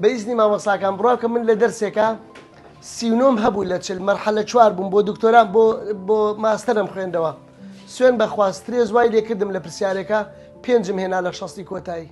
بە ئیزنی مامۆستاکان بڕاکەم من لە دەرسێکا سی و نۆم هەبوو لە چل مەرحەلە چوار بووم بۆ دکتۆران بۆ بۆ ماستەرم خوێندەوە سوێن بەخوا سترێز وای لێکردم لە پرسیارێکە پێنجم هێنا لە شەستی کۆتایی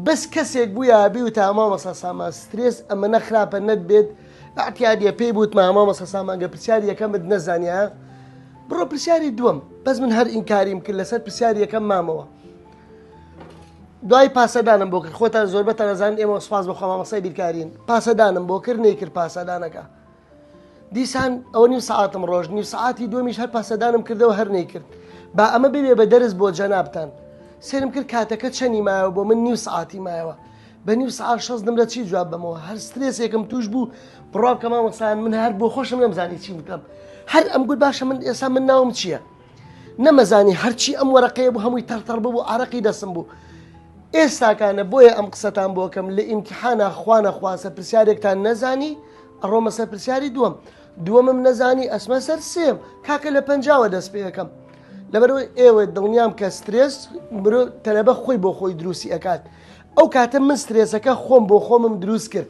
بەس کەسێک بوو یابی و تامامەسا سامان سترێز ئەمەە خراپە نەتبێت ئەتیادە پێی بوت مامامەسە سامانگە پرسیار یەکەمت نەزانیا بڕۆ پرسیاری دووەم بەس من هەر ئینکاریم کرد لەسەر پرسیار یەکەم مامەوە دوای پاسەدانم بۆ کرد خۆتان زۆربەتان ئەزانن ئێمە سپاس بەخوا مامەسای بیرکارین پاسەدانم بۆ کرد نەیکرد پاسەدانەکە دیسان ئەوە نیو ساعتم ڕۆژ نیو ساعتی دومیش هەر پاسەدانم کردەوە هەر نەیکرد با ئەمە ببێ بە دەرس بۆ جەنابان سرم کرد کاتەکە چەنی مایەوە بۆ من نیو ساعتی مایەوە بە نیو سعار شەز نمرە چی جواب بمەوە هەر سترێسێکم توش بوو بڕاو کە مامەسان من هەر بۆ خۆشم نەمزانی چی بکەم هەر ئەم گوت باشە من ئێستا من ناوم چییە؟ نەمەزانی هەرچی ئەم وەرەقەیە بوو هەمووی تەڕتەڕ ببوو ئارەقی دەسم بوو ئێستاکانە بۆیە ئەم قسەتان بۆکەم لە ئیمتحانا خوانە خواسە پرسیارێکتان نەزانی ئەڕۆمە سەر پرسیاری دووەم دووەمم نەزانی ئەسمە سەر سێم کاکە لە پەنجاوە دەست پێەکەم لەبەرەوەی ئێوە دڵنیام کە سترێس مرۆ تەلەبە خۆی بۆ خۆی دروستی ئەکات ئەو کاتە من سترێسەکە خۆم بۆ خۆمم دروست کرد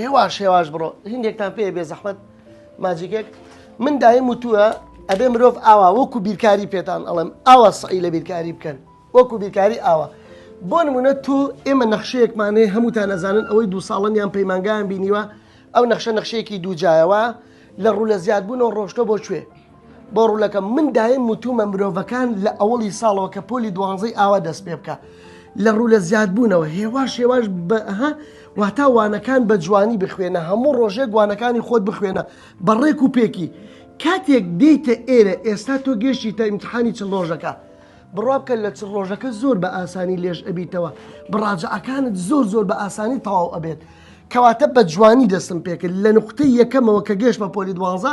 هێواش هێواش بڕۆ هندێکتان پێ بێ زەحمت ماجیکێک من دایم وتووە ئەبێ مرۆڤ ئاوا وەکو بیرکاری پێتان ئەڵم ئاوا سعی لە بیرکاری بکەن وەکو بیرکاری ئاوا بۆ نمونە تۆ ئێمە نەخشەیەکمانێ هەمووتان نەزانن ئەوەی دو ساڵن یان پەیمانگان بینیوە ئەو نەخشە نەخشەیەکی دووجایەوە لە ڕوو لە زیادبوون و ڕۆشتە بۆ کوێ بۆ ڕولەکەم من دایم وتومە مرۆڤەکان لە ئەوەڵی ساڵەوە کە پۆلی دوانزەی ئاوا دەست پێ بکە لە ڕوو لە زیادبوونەوە هێواش هێواش بەها واتا وانەکان بە جوانی بخوێنە هەموو ڕۆژێک وانەکانی خۆت بخوێنە بە ڕێک و پێکی کاتێک دیتە ئێرە ئێستا تۆ گەشتی تا ئیمتحانی چ ڕۆژەکە بڕابکە لە چ ڕۆژەکە زۆر بە ئاسانی لێژ ئەبیتەوە بڕاجعەکانت زۆر زۆر بە ئاسانی تەواو ئەبێت کەواتە بە جوانی دەستم پێکرد لە نقطەی یەکەمەوە کە گەشتمە پۆلی دوانزە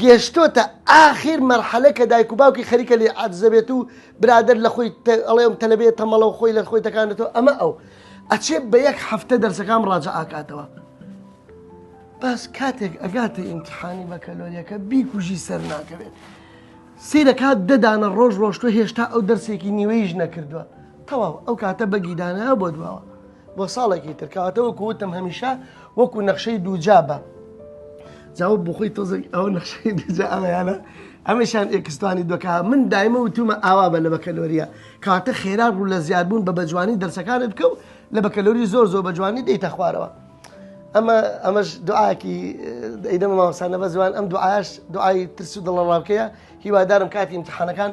گێشتۆتە ئاخیر مەرحەلە کە دایک و باوکی خەریکە لێ عەرزەبێت و برادەر لە خۆی ئەڵێم تەلەبێت تەمەڵە و خۆی لە خۆی تەکانێتەوە ئەمە ئەو ئەچێ بە یەک هەفتە دەرسەکان ڕاجە ئاکاتەوە بەس کاتێک ئەگاتە ئیمتحانی بەکەلۆریەکە بیکوژی سەر ناکەوێت سیرە کات دەدانە ڕۆژ ڕۆشتوە هێشتا ئەو دەرسێکی نیوەیش نەکردووە تەواو ئەو کاتە بەگیدانە بۆ دواوە بۆ ساڵێکی تر کەواتە وەکو وتم هەمیشە وەکو نەخشەی دووجا بە جاوە بخۆی تۆزەک ئەو نەخشەی دوجا ئەمەیانە ئەمەشان ئێکستانی دۆکا من دایمە وتومە ئاوا بە لە بەکەلۆریە کاتە خێرا ڕوو لە زیادبوون بە بەجوانی دەرسەکانت بکە و لە بەکەلۆری زۆر زۆر بەجوانی دەیتە خوارەوە ئەمە ئەمەش دوعاکی دەیدەمە ماوەسانە بە زوان ئەم دوعاش دوعای ترس و دڵەڕاوکەیە هیوادارم کاتی امتحانەکان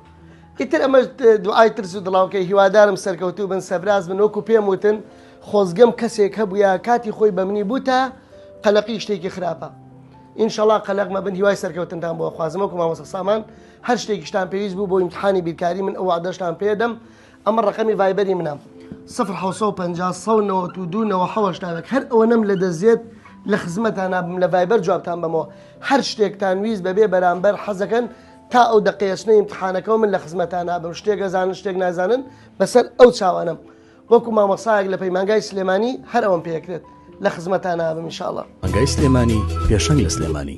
ئیتر ئەمەش دوعای ترس و دڵاوکەی هیوادارم سەرکەوتوو بن سەبراز من وەکو پێم وتن خۆزگەم کەسێک هەبووە کاتی خۆی بە منی بووتە قەلەقی شتێکی خراپە ئینشەڵا قەلەقمە بن هیوای سەرکەوتندان بۆ خوازم وەکو مامۆسە سامان هەر شتێکیشتان پێویست بوو بۆ ئیمتحانی بیرکاری من ئەو عادەشتان پێدەم ئەمە ڕقەمی ڤایبەری منە 1950 هەر ئەوە نەم لە دەزێت لە خزمەتان نابم لە ڤایبەر جوابتان بەمەوە هەر شتێکتان ویست بەبێ بەرامبەر حەزەکەن تا ئەو دەقەیە چنە ئیمتحانەکەەوە من لە خزمەتا نابم شتێک ئەزانن شتێک نازانن بەسەر ئەو چاوانم وەکو مامەسایەک لە پەیمانگای سلێمانی هەر ئەوم پێکرێت لە خزمەتا نابم انشاءالله مەنگای سلێمانی پێشەنگ لە سلێمانی